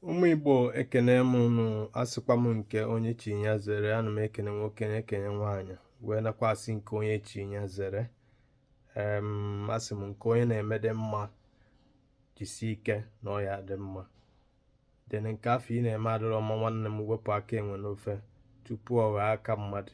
ụmụ igbo ekene m unu asịkwa m nke onye chi ya zere ana m ekene nwoke na-ekene nwaanyị wee nakwa asị nke onye chi ya zere asị m nke onye na-eme dị mma jisi ike na ọ ya-adị mma then nke afụ ị na-eme adịrọ mma nwanne m wepụ aka enwe n'ofe tupu ọ ghọọ aka mmadụ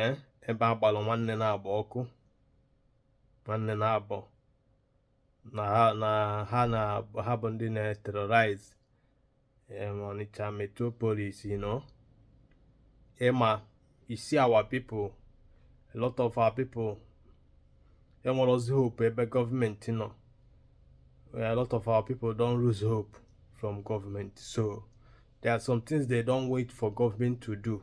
ee ebe a gbalụ nwanne naabọ ọkụ nwanne naabọ na ha na ha bụ ndị na-terrorize Onitsha metropolis you know ịma you see our people a lot of our people enwerọzi hope ebe gọọmenti nọ a lot of our people don lose hope from government. So there are some things they don't wait for government to do.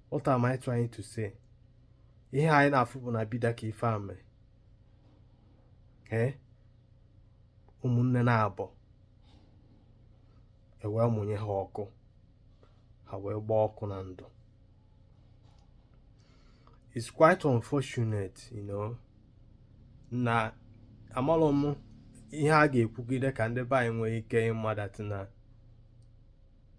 What am I trying to say? Ihe anyị na-afụ bụ na Bida ka ife a mere. Ee, ụmụnne naabọ e wee mụnye ha ọkụ ha wee gbaa ọkụ na ndụ. It's quite unfortunate, you know, na amalọ m ihe a ga-ekwugide ka ndị be anyị nwee ike ịma that na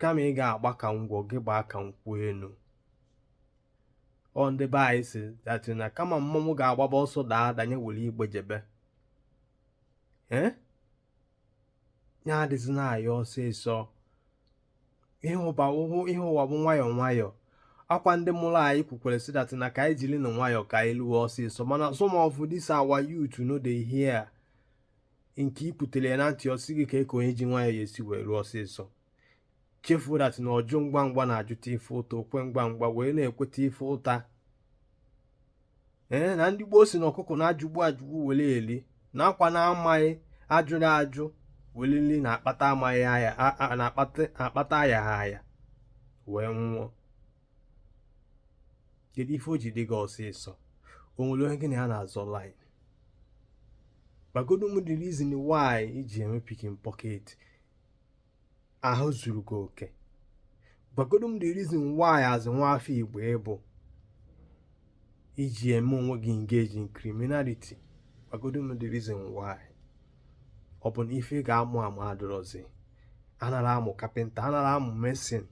kama ị ga-agba ka ngwọ gị gbaa ka nkwụ enu ọ ndị be anyị sị that na kama mmọnwụ ga-agbaba ọsọ daa danye were igbe jebe ya adịzina anyị ọsịsọ ihe ụwa bụ nwayọọ nwayọọ ọkwa ndị mụrụ anyị kwukwara sị that na ka anyị jirinụ nwayọọ ka anyị luo ọsịsọ mana some of this our youth no dey hear nke i kwutere ya na ntị ọ sị gị kee ka onye ji nwayọọ ya-esi wee ruo ọsịsọ chefuo that na ọjụ ngwa ngwa na-ajụta ife ụta okwe ngwa ngwa wee na-ekweta ife ụta ee na ndị gboo si na ọkụkọ na-ajụgbu ajụgbu were eli na ọkwa na amaghị ajụrọ ajụ were rie na-akpata ayaha aya wee nwụọ kedu ife o ji dị gị ọsịsọ o nwere onye gị na ya na-azọ line gwagodu m the reason why i ji eme picking pocket ahụ zuru gị oke gwagodu m the reason why as nwa afọ igbo ị bụ i ji eme onwe gị engage in criminality gwagodu m the reason why ọ bụ na ife ị ga-amụ amụ adịrọzi anarọ amụ carpenter anarọ amụ mason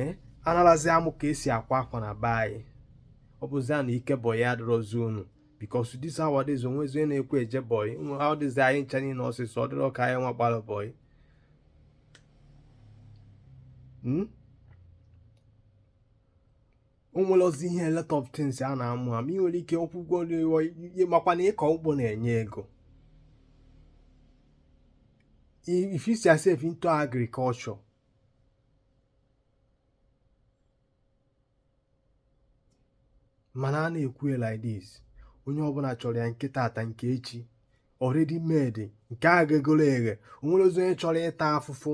eh? anarọzi amụ ka esi akwa akwa na be anyị ọ bụzia na ije bọyị adịrọzi unu because this nowadays o nwezi onye na-ekwe eje bọyị nowadays anyị ncha niile ọsịsọ ọ dịrọ ka anyị nwa gbara bọyị hmm? o nwerozi ihe lot of things a na-amụ amụ ị nwere ike ọkwụ ụgwọ n'iwe makwa na ịkọ ugbo na-enye ego if you see yourself into agriculture mana a na-ekwu ya like this onye ọbụla chọrọ ya nke tata nke echi already made nke a ga-egoro eghe o nwerozi onye chọrọ ịta afụfụ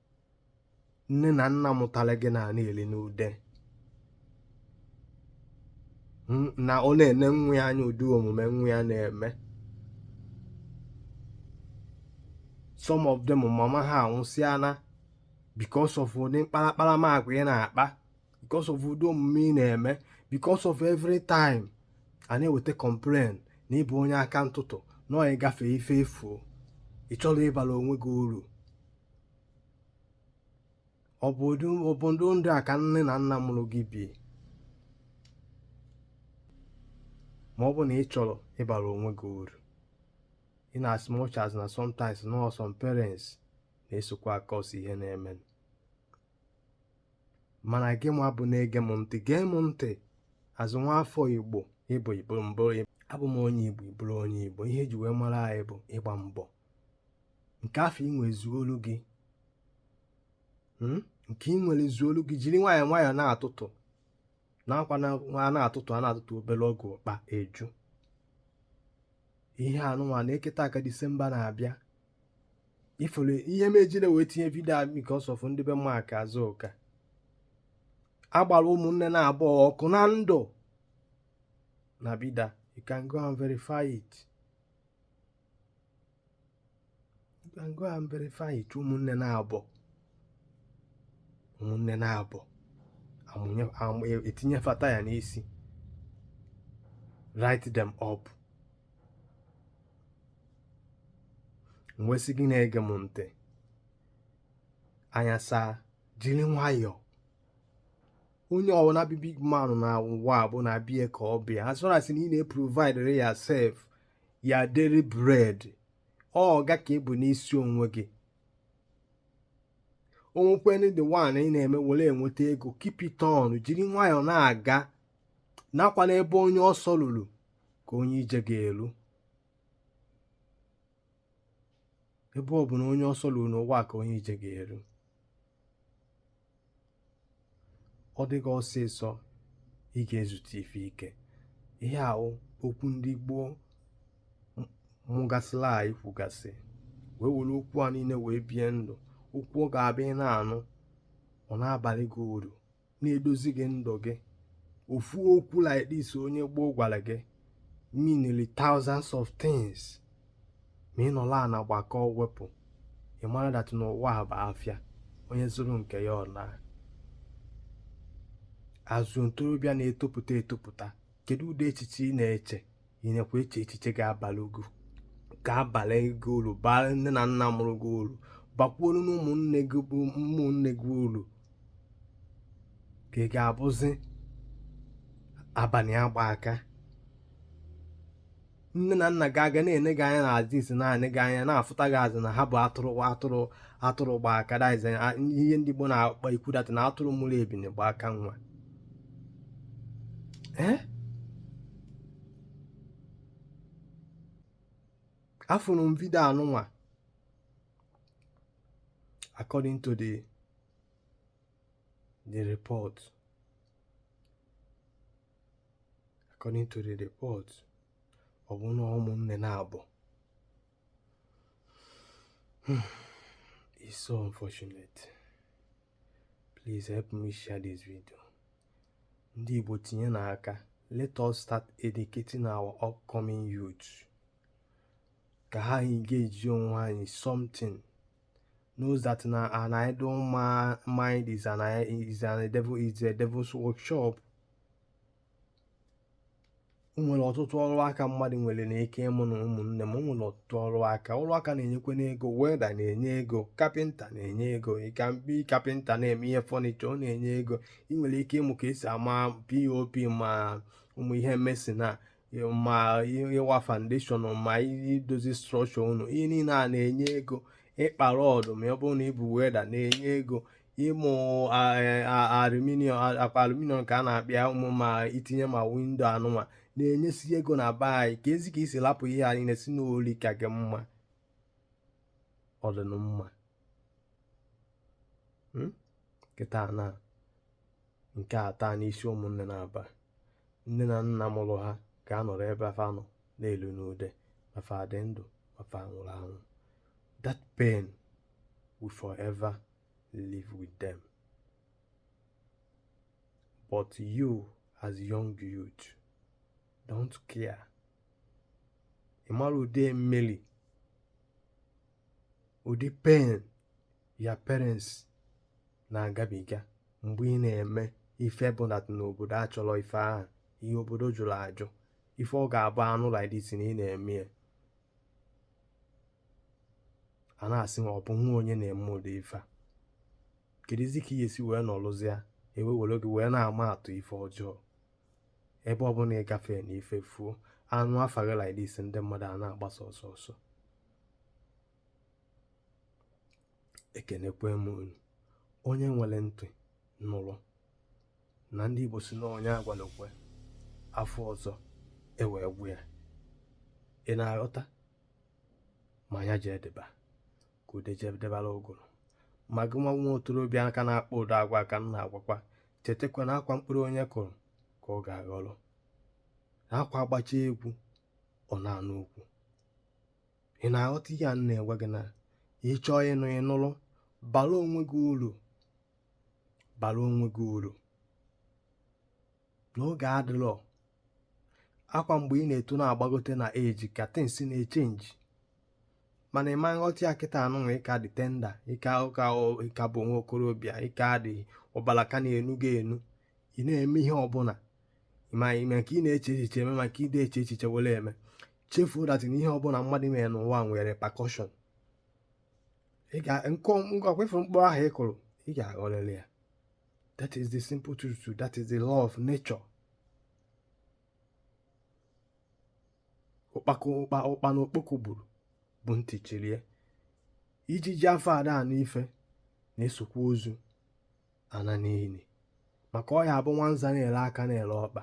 nne na nna mụtara gị na na-eli n'ude na ọ na-ene nwa ya anya ụdị omume nwa ya na-eme some of them mama ha anwụsịala because of ụdị mkparakparamagwa ị na-akpa because of ụdị omume ị na-eme because of every time a na-eweta complain na ị bụ onye aka ntụtụ na ị gafe ife efuo ị chọrọ ịbara onwe gị uru ọ bụ ụdị ndụ a ka nne na nna mụrụ gị bi ma ọ bụ na ị chọrọ ịbara onwe gị uru in as much as na sometimes no some parents na-esokwa acause ihe na-eme mana gị ma bụ na-ege m ntị gee m ntị ezi nwa afọ igbo ịbụ igbo mbụ abụ m onye igbo bụrụ onye igbo ihe eji wee mara anyị bụ ịgba mbọ nke afụ i nwere zuolu gị hmm? nke ị nwere zuolu gị jiri nwayọọ nwayọọ na-atụtụ nakwa na a na-atụtụ a na-atụtụ obere oge akpa eju ihe anụnwa na-eketa aka disemba na-abịa ifere ihe m jiri wee tinye vidio a because of ndị be mak azụka agbara ụmụnne naabọ ọkụ na ndụ na Bida you can go and verify it go and verify it ụmụnne naabọ ụmụnne naabọ e tinye fa taya n'isi light them up m wee sị gị na-ege m ntị anya saa jiri nwayọọ onye ọwụla bụ big man na ụwa bụ na be ya ka ọ bụ ya as far as na ị na-eprovide yourself your daily bread ọga ka ị bụ n'isi onwe gị o nwekwenụ the one ị na-eme were enweta ego keep it on jiri nwayọọ na-aga nakwa n'ebe onye ọsọ ruru ka onye ije ga-eru ebe ọbụna onye ọsọ ruru n'ụwa ka onye ije ga-eru ọ dịghị ọsịsọ ị ga-ezute ife ike ihe a wụ okwu ndị gboo mụgasịla anyị kwugasị wee were okwu a niile wee bie ndụ okwu ọ ga-abụ ị na-anụ ọ na-abalị gị uru na-edozi gị ndụ gị ofu okwu like this onye gboo gwara gị meanili thousands of things ma ị nọlụ ana gbakọọ wepụ ị mara that na ụwa bụ afịa onye zụrụ nke ya ọ naa as ntorobịa na-etopụta etopụta kedu ụdị echiche ị na-eche ị nakwa eche echiche ga ga-abalị gị ulu baalụ nne na nna mụrụ gị ulu bakwuolu na ụmụnne gị bụ ụmụnne gị ulu ka ị ga-abụzi abalị agba aka nne na nna gị aga na-ene gị anya na azụ isi na-ene gị anya na-afụta gị as in na ha bụ atụrụ atụrụ atụrụ gba aka that is ihe ndị Igbo na-akpa ikwu that na atụrụ mụrụ ebini gba aka nwa ee afụrụ m vidio anụnwa according to the the report according to the report ọ bụ na ụmụnne naabọ hmm, it's so unfortunate please help me share this video ndị Igbo tinyenụ aka let us start educating our upcoming youth ka ha engage onwe ha in something knows that na an idle ma mind is an is an a devil is a devil's workshop o nwere ọtụtụ ọrụ aka mmadụ nwere na ike ịmụ nụ ụmụnne m o nwere ọtụtụ ọrụ aka ọrụ aka na-enyekwanụ ego welder na-enye ego carpenter na-enye ego ị can be carpenter na-eme ihe furniture ọ na-enye ego ị nwere ike ịmụ ka esi ama POP ma ụmụ ihe mason a ma ịwa foundation ma idozi structure ụnọ ihe niile a na-enye ego ịkpa rod ma ọ bụrụ na ị bụ welder na-enye ego ịmụ aluminium akpa aluminium ka a na-akpịa ụmụ ma itinye ma window anụnwa na-enyesi ego na be anyị kezi ka i si lapụ ihe a niine sị na oli ka gị mma ọ dịnụ mma hmm? kịta na nke a taana isi ụmụnne naabọ nne na nna mụrụ ha ga-anọrọ ebe fa nọ na-elu n'ude ma fa dị ndụ ma fa nwụrụ anwụ that pain will forever live with them but you as young youth don't care ị mara ụdị mmerụ ụdị pain your parents na-agabiga mgbe ị na-eme ife bụ na n'obodo achọrọ ife ahụ ihe obodo jụrụ ajụ ife ọ ga-abụ a nụ like this na ị na-eme ya a na-asị ma ọ bụ nwa onye na-eme ụdị ife a kedụzi ka ị ga-esi wee nọrụzie e wee were gị wee na-ama atụ ife ọjọọ ebe ọ bụla ị gafee na ife fuo a nụ afa gị like this ndị mmadụ a na-agbasa ọsọ ọsọ ekenekwe m unu onye nwere ntị nụrụ na ndị Igbo si na onye a gwalụ kwe a fụ ọzọ e wee gwa ya ị na-aghọta ma ya jee deba ka ude jee debara ụgụrụ ma gị nwa nwa okorobịa ka na-akpa ụdị agwa a ka m na-agwakwa chetakwa na ọ kwa mkpụrụ onye kụrụ ka ọ ga-aghọrọ na ọ kwa a gbachaa egwu ọ naa n'ukwu ị na-aghọta ihe a na-egwa gị na ị chọọ ịnụ ị nụrụ bara onwe gị uru bara onwe gị uru na oge adịrọ ọ kwa mgbe ị na-eto na-agbagote na age ka things na-echenji mana ị ma aghọta ya kịtaa nụnwa ị ka dị tender ị ka ị ka ị ka bụ nwa okorobịa ị ka dị ọbala ka na-enu gị enu ị na-eme ihe ọbụla ma ime nke ị na-eche echiche eme ma nke ị na-eche echiche were eme chefuo that na ihe ọbụla mmadụ mere n'ụwa nwere repercussion ị ga nkọ m gwakwa ị fụ mkpụrụ ahụ ị kụrụ ị ga-aghọrịrị ya that is the simple truth that is the law of nature ụkpakọ ụkpa ụkpana okpoko gburu bụ ntị chiri ya ijiji afụ ada anụ ife na-esokwa ozu ana n'ili maka ọ ya-abụ nwanza na-ele aka na-ele ọkpa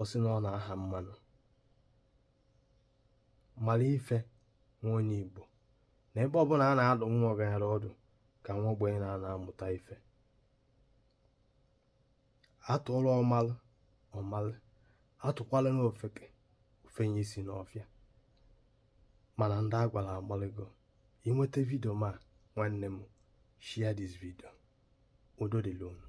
ọ sị na ọ na-aha mmanụ mara ife nwa onye Igbo na ebe ọbụla a na-adụ nwa ọgaranya ọdụ ka nwa ogbenye na-anọ amụta ife a tụọla ọmalụ ọ malụ a tụkwalanụ ofeke o fenye isi n'ọfịa mana ndị a gwala amaligo ị nweta video m a nwanne m share this video udo dịrị unu